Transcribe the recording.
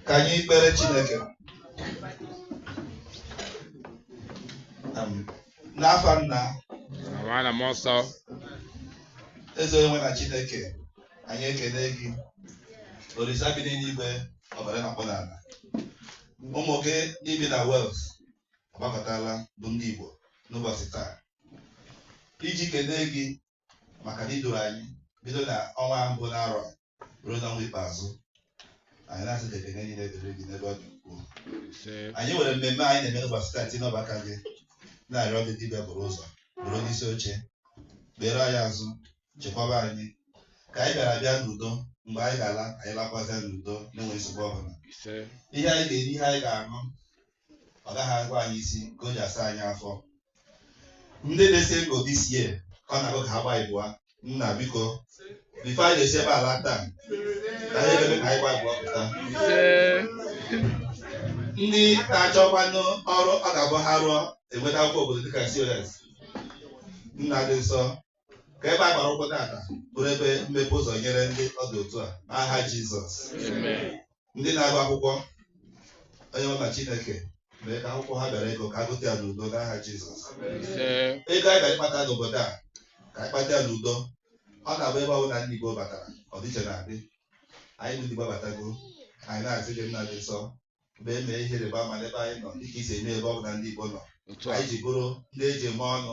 ka anyị kpere Chineke n'afa nna na mmụọ nsọ eze onye nwe na Chineke anyị ekele gị Olisa bi n'eluigwe ọbara na-akpụ n'ala ụmụ gị bi na Wales agbakọtala bụ ndị Igbo n'ụbọchị taa iji kelee gị maka na i duru anyị bido na ọnwa mbụ n'arọ ruo n'ọnwa ikpeazụ anyị na-asị ka ekene niile dịrị gị n'ebe ọ dị ukwuu anyị nwere mmemme anyị na-eme n'ụbọchị taa tinye n'ọba aka gị na-arịọ gị gị bịa buru ụzọ bụrụ onye isi oche kpere anyị azụ chekwaba anyị ka anyị bịara bịa n'udo mgbe anyị ga-ala anyị lakwazịa n'udo na-enweghị nsogbu ọbụla ihe anyị ga-eri ihe anyị ga-aṅụ ọ gaghị awa anyị isi nke o ji asa anyị afọ ndị nọ single this year ọ na-agụ ka ha gba ịbụa nna biko before anyị na-esi ebe a ala taa ka anyị ebe ka anyị gba ịbụa pụta ndị na-achọkwanụ ọrụ ọ ga-abụ ha rụọ enweta akwụkwọ obodo dịka COS nna dị nsọ ka ebe a gbara ụkwụ tata bụrụ ebe mmepe ụzọ nyere ndị ọ dị otu a n'aha Jizọs ndị na-agụ akwụkwọ onye ọma Chineke mee ka akwụkwọ ha bịara ịgụ ka ha gụta ya n'udo n'aha Jizọs ego anyị bịara ịkpata n'obodo a ka anyị kpata ya n'udo ọ na-abụ ebe ọ bụla ndị Igbo batara ọdịiche na-adị anyị bụ ndị Igbo batago anyị na-asị gị nna dị nsọ mgbe e mee ihe ịrịba ama n'ebe anyị nọ dịka i si eme ebe ọ bụla ndị Igbo nọ anyị ji bụrụ ndị e ji eme ọnụ